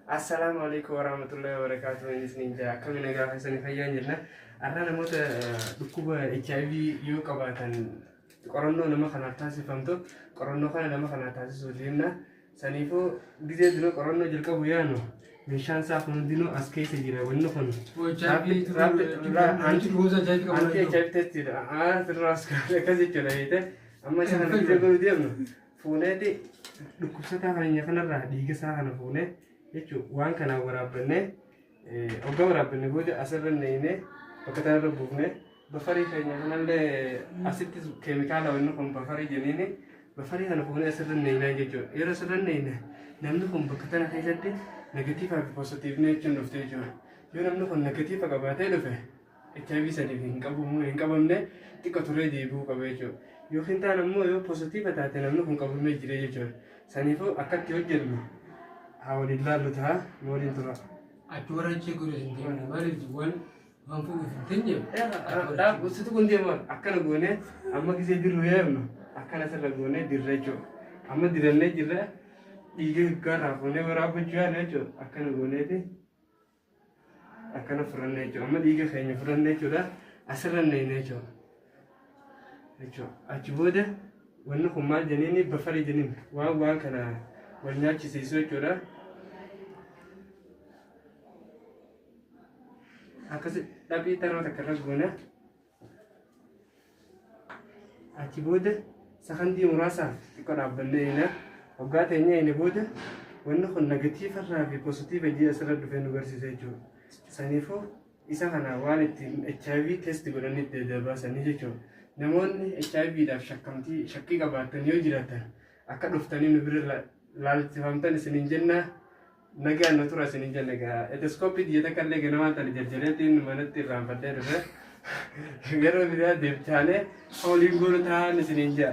Assalaamu alaikum warahmatullahi wabarakatuh. Inni isiniin jaa akkami nagaa keessanii fayyaan jirna. Har'a namoota dhukkuba HIV yoo qabaatan qorannoo nama kanaaf taasifamtu qorannoo kana nama kanaaf taasisuu deemna. Saniifuu gizee dura qorannoo jalqabu yaanu meeshaan isaa kun hundinuu as keessa jira wanni kun. Anti HIV test jedha. Anti raas akkas jechuudha jeete amma isa kana gizee godhu deemnu. fuuneeti dhukkubsataa keenya kanarraa dhiiga isaa kana fuunee jechuun waan kanaan waraabbannee hoggaa waraabbanne booda asirra neeynee bakka tanarra buufnee bafarii keenya kanallee asittis keemikaala wanni kun bafarii jenniini bafarii kana fuunee asirra neeynaa jechuudha yeroo asirra neeyne namni kun bakka tana keessatti negatiivaa fi poositiivni jechuun dhufte jechuudha yoo namni kun negatiiva qabaatee dhufe HIV sadiif hin qabu moo hin qabamne xiqqa turee deebi'uu qaba jechuudha. Yookiin taan ammoo yoo positiiva taate namni kun qabamee jira jechuudha. Saniifuu akkatti hojjennu haa waliin laallu ta'a nu waliin tura. Achi warra achi godhu hin deemne maaliif waan waan fuudhuuf hin teenyeef. Dhaaf usitu kun deema akkana goone amma gisee dirru yaabnu akkana sirra goone dirra jechuudha. Amma dirannee jirra dhiiga gaarraa fuunee waraabachuu yaala jechuudha akkana gooneeti. akkana fudhanne jechuudha. Amma dhiiga keenya fudhanne jechuudha. Asirra neeyne jechuudha. Jechuudha. Achi booda wanni kun maal jeniini bafarii jeniin waan waan kana wal nyaachisiisu jechuudha. Akkasi dhaphii taroo takka irra goona. Achi booda sakandii muraasaaf xiqqoo dhaabbannee eegna. Waggaa teenya eegne booda wanni kun negatiiva irraa fi positiiva ji'a asirra dhufee nu barsiisa jechuudha. Saniifuu isa kana waan ittiin HIV test godhanii itti adda baasanii jechuudha. Namoonni HIV dhaaf shakkamtii shakkii qabaatan yoo jiraatan akka dhuftanii nu bira la- laalchifamtan isiniin jennaa Nagaan nu tura isin hin jenne gaa eteskoppii diyyata kallee ganamaa tana jarjareetiin manatti irraanfadhee dhufe gara biraa deebchaanee waliin goonu taa'an isin hin jaa.